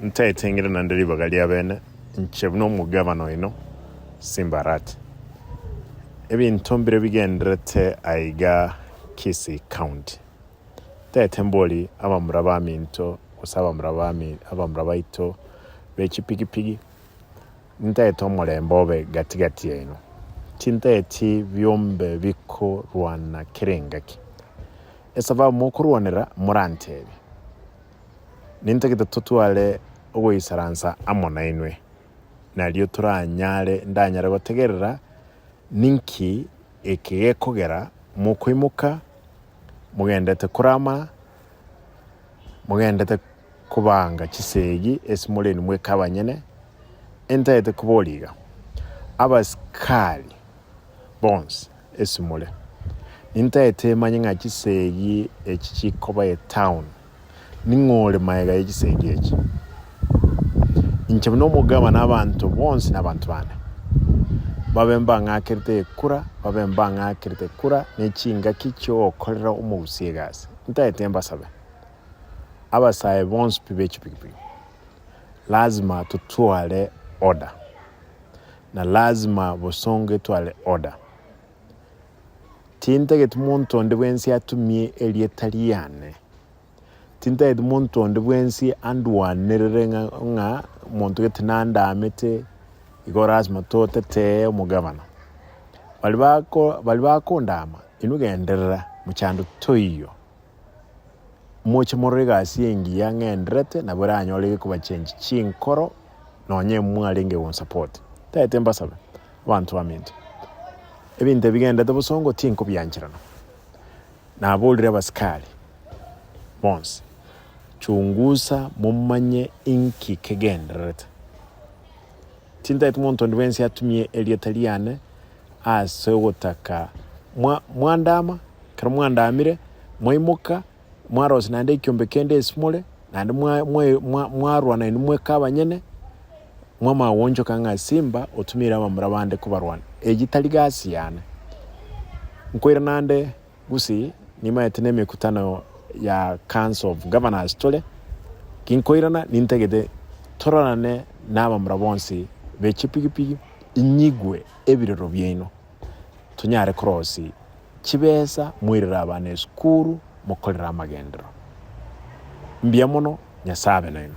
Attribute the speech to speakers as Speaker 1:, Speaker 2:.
Speaker 1: Ntaeteng'ire naende ribaga ri'abene, inche buna omogabana oino, Simbarat. Ebinto mbire bigendererete aiga Kisii County. Ntaete mbori abamura baminto gose abamura baito bechipigipigi. Ntaete omorembe obe gati-gati yaino. Tintaeti biombe bikorwana kera engaki. Esababu mokorwanera moranteebie. Nintagete totware ogoisaransa amo nainwe, nario toranyare ndanyare gotegerera ninki eke gekogera mokoimoka mogendete korama, mogendete kobanga chisegi ase moreni mweka abanyene, entagete koboria iga, Abasikari bonsi ase more, nintagete manye ng'a chisegi echi chikoba etown, ning'o ore magega ye chisegi echi? Inche buna omogabane abanto bonsi nabanto bane, babe mbang'akerete ekura, babe mbang'akerete ekura ne chingaki chiogokorera omogusia egasi. Ntaete mbasabe, abasae bonsi pi be chipigipigi, lazima totware order, na lazima bosongo etware order. Tintageti monto onde bwensi atumie erieta riane Tintaeti monto onde bwensi andwanerere ng'a ng'a omonto gete nandaamete, igo lasima totetee omogabana. Baria bako baria bakondaama, inwe genderera, mochando toiyo. Moche morore egasi engiya ng'enderete nabo eranyore egekobachenchi chinkoro nonye mwarenge gonsupport. Ntaete mbasabe, abanto baminto, ebinto ebi bigenderete bosongo tinkobiancherana. Naboorire abasikari bonsi, Chungusa momanye inki kegendererete. Tintaeti monto onde bwensi atumie erieta riane ase ogotaka. Mwa, mwandama, ekero mwandamire, mwaimoka, mwarosia naende ekiombe kende esimore, naende mwa, mwa, mwa, mwarwa nainwe mweka abanyene, mwamagwonchoka ng'a Simba otumeire abamura bande kobarwana. Eyio tari gasi yane. Nkoira naende gose nimanyete nemekutano ya Council of Governors tore, ginkoirana nintagete tororane nabamura bonsi be chipigipigi inyigwe ebirero biaino. tonyare korosia chibesa moirere abana esukuru, mokorere amagenderero. Mbuya mono, Nyasae abe nainwe.